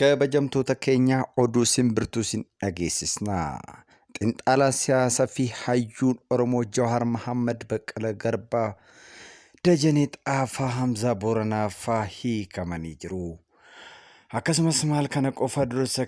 Kabajamtoota keenyaa oduu simbirtuu sin dhageessisna. Xinxaalaa siyaasaa fi hayyuun Oromoo Jawaar Mahammad Baqqala Garbaa Dajanee Xaafaa Hamzaa Booranaa faa hiikamanii jiru. Akkasumas maal kana qofa dursa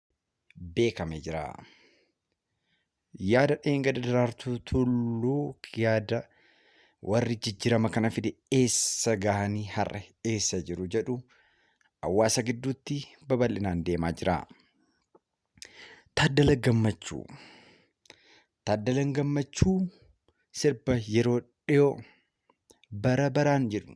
beekame jira. Yaada dheengada daraartuu tulluu yaada warri jijjirama kana fide eessa gahanii har'a eessa jiru jedhu hawaasa gidduutti babal'inaan deemaa jira. Taaddala Gammachuu Taaddalan Gammachuu sirba yeroo dhiyoo bara baraan jedhu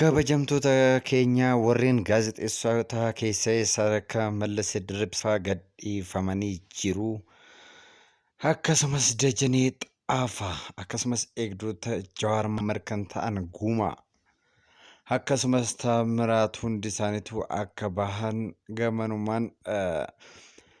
Kabajamtoota keenya warreen gaazexeessota keessa sadarkaa Mallas Dirribsaa gadhiifamanii jiru. Akkasumas Dajanee Xaafaa akkasumas eegdota Jawaar Mammar kan ta'an Guumaa akkasumas Taamiraat hundi isaaniitu akka bahan gamanumaan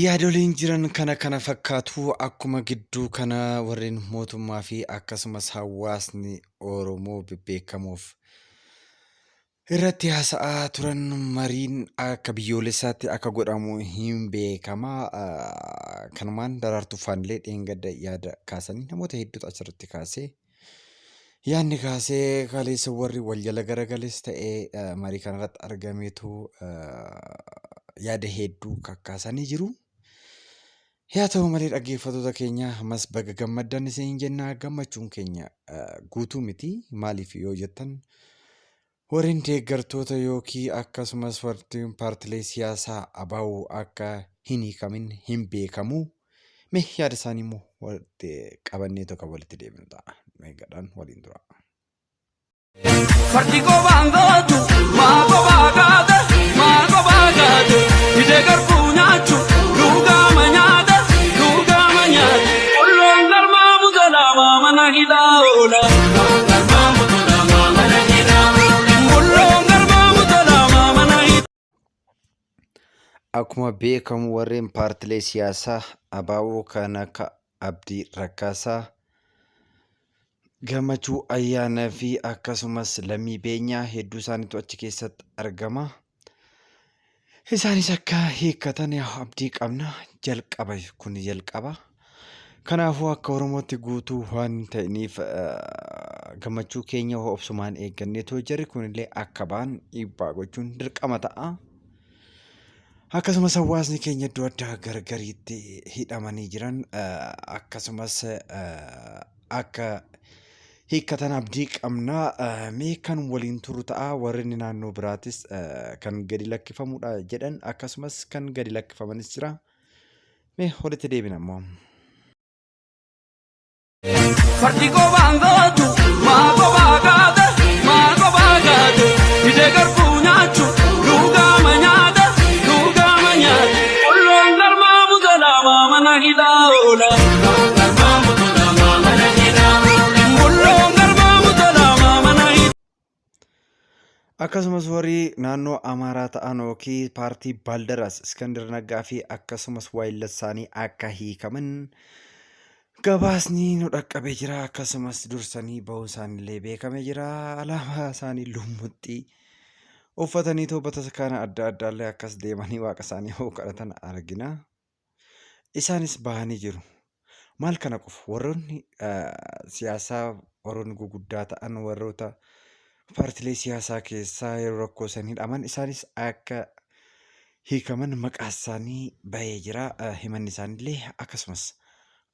Yaadoliin jiran kana kana fakkaatu akkuma gidduu kana warreen mootummaa fi akkasumas hawaasni Oromoo bebbeekamoof irratti haasa'aa turan mariin akka biyyoolessaatti akka godhamu hin beekama. Kanumaan daraartuu faanilee dheengadda yaada kaasanii namoota hedduutu achirratti kaasee Yaadni kaasee kaleessa warri wal jala garagales ta'ee eh, marii kanarratti argameetu eh, yaada hedduu kakkaasanii jiru. Yaa ta'u malee dhaggeeffattoota keenya ammas baga gammaddan isin jenna gammachuun keenya eh, guutuu miti maaliif yoo jettan Warren deeggartoota ykn akkasumas warri paartilee siyaasaa ABO akka hin hiikamin hin beekamu. Mee yaada isaanii immoo walitti qabanneetu kan walitti deebinu ta'a. Meegadhaan waliin tura. Fardi gobaan gootu maa gobaa gaate maa gobaa gaate hidee garbuu nyaachu luugaama nyaate luugaama nyaate. Qolloon garmaamu ganaamaa mana hidhaa oola. Qolloon garmaamu ganaamaa mana hidhaa oola. Qolloon garmaamu ganaamaa mana hidhaa. Akkuma beekamu warreen paartilee siyaasaa abaa'oo kan akka Abdii Raggaasaa, Gammachuu Ayyaanaa fi akkasumas Lammii Beenyaa hedduu isaaniitu achi keessatti argama. Isaanis akka hiikkatan abdii qabna. Jalqaba kun jalqaba. Kanaafuu akka Oromootti guutuu waan ta'iniif gammachuu keenya obsumaan eeggannee too jarri kunillee akka ba'an dhiibbaa gochuun dirqama ta'a. Akkasumas hawaasni keenya iddoo addaa gargariitti hidhamanii jiran akkasumas akka hiikkatan abdii qabna. Mee kan waliin turu ta'a warreen naannoo biraatis kan gadi lakkifamudha jedhan akkasumas kan gadi lakkifamanis jira. Mee walitti deebina immoo. Fardi gobaan gootu maa gobaa gaate maa gobaa gaate hidee garbuu nyaachu luugaama nyaate luugaama nyaate. Qolloon garmaamu ganaamaa mana hidhaa oola. Qolloon garmaamu ganaamaa mana hidhaa oola. Qolloon garmaamu ganaamaa mana hidhaa. Akkasumas warri naannoo Amaaraa ta'an yookiin paartii Baaldaraas Iskandir Naggaa fi akkasumas waayillassaanii akka hiikaman gabaasni nu dhaqqabee jira. Akkasumas dursanii ba'uun isaaniillee beekamee jira. Alaabaa isaanii lummuxxii uffatanii too bataskaana adda addaallee akkas deemanii waaqa isaanii hoo kadhatan argina. Isaanis bahanii jiru. Maal kana qofa warroonni siyaasaa warroonni guguddaa ta'an warroota paartilee siyaasaa keessaa yeroo rakkoo san hidhaman isaanis akka hiikaman maqaa isaanii bahee jira. Himanni isaaniillee akkasumas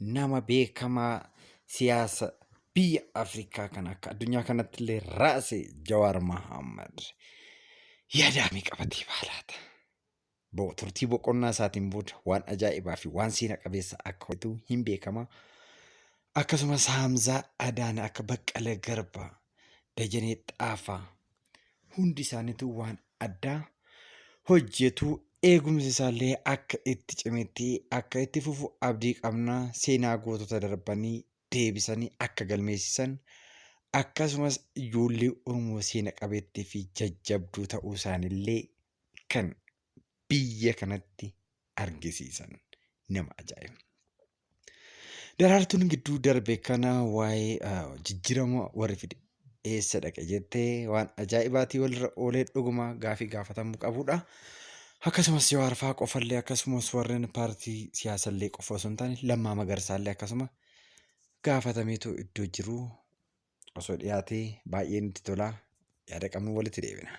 nama beekamaa siyaasa biyya Afrikaa kan akka addunyaa kanatti illee raase Jawaar Mahammad yaadaamii qabatee baalaata. Bo- Turtii boqonnaa isaatiin booda waan ajaa'ibaa fi waan seena qabeessa akka hojjetu hin beekama. Akkasumas Haamzaa Adaana akka Baqqala Garba, Dajanee Xaafaa, Hundi isaaniitu waan addaa hojjetu eegumsi isaallee akka itti cimetti akka itti fufu abdii qabna seenaa gootota darbanii deebisanii akka galmeessisan akkasumas ijoollee Oromoo seena qabeettii fi jajjabduu ta'uu isaanillee kan biyya kanatti argisiisan nama ajaa'iba. Daraartuun gidduu darbe kana waa'ee ah, jijjiirama warri fide eessa dhaqe jettee waan ajaa'ibaatii walirra oolee dhuguma gaafii gaafatamuu qabudha. Akkasumas yoo arfaa qofallee akkasumas warreen paartii siyaasallee qofa osoo hin taane lammaa magarsaallee akkasuma gaafatameetu iddoo jiru osoo dhiyaatee baay'ee nutti tola yaada qabnu walitti deebina.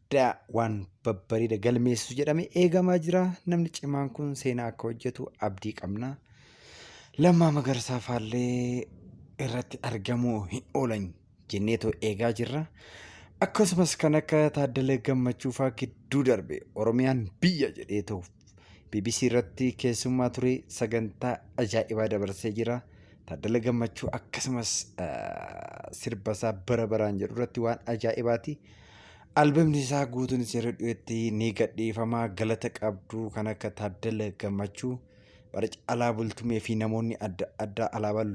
guddaa waan babbareeda galmeessisu jedhame eegamaa jira. Namni cimaan kun seenaa akka hojjetu abdii qabna. Lammaa Magarsaa faallee irratti argamuu hin oolan jenneetoo eegaa jirra. Akkasumas kan akka Taaddala Gammachuufaa gidduu darbe Oromiyaan biyya jedheetoo bbc irratti keessummaa ture sagantaa ajaa'ibaa dabarsee jira. Taaddala Gammachuu akkasumas sirba isaa bara baraan jedhu irratti waan ajaa'ibaati. Albamni isaa guutuun seera dhiyeetti ni gadhiifama galata qabdu kan akka Taaddala Gammachuu bara caalaa bultumee fi namoonni adda addaa alaabaa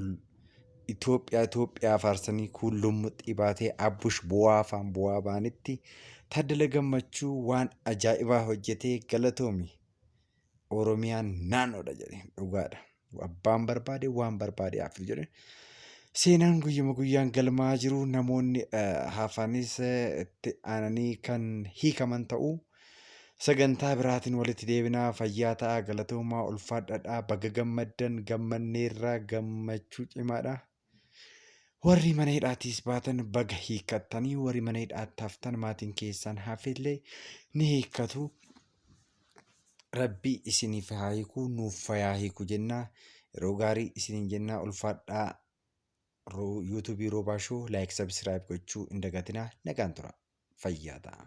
Itoophiyaa Itoophiyaa faarsanii kuun lummuxxii baatee abbush bu'aa afaan bu'aa baanitti Taaddala Gammachuu waan ajaa'ibaa hojjetee galatoomi Oromiyaan naannoodha jedhe dhugaadha abbaan barbaade waan barbaade haaftu jedhe seenaan guyyuma guyyaan galmaa jiru namoonni haafanis itti aananii kan hiikaman ta'uu Sagantaa biraatiin walitti deebinaa fayyaa ta'aa galatoomaa ulfaadhadhaa baga gammaddan gammanneerra gammachuu cimaadha. Warri mana hidhaatiis baatan baga hiikkattanii warri mana hidhaatti haftan maatiin keessan hafillee ni hiikkatu. Rabbi isiniif haa hiiku nuuf fayaa hiiku jenna yeroo gaarii isiniin jenna ulfaadhaa Ro- yuutuubii roobaa shoo laayik sabisiraayib gochuu hin dagatinaa nagaan tura fayyaa ta'a.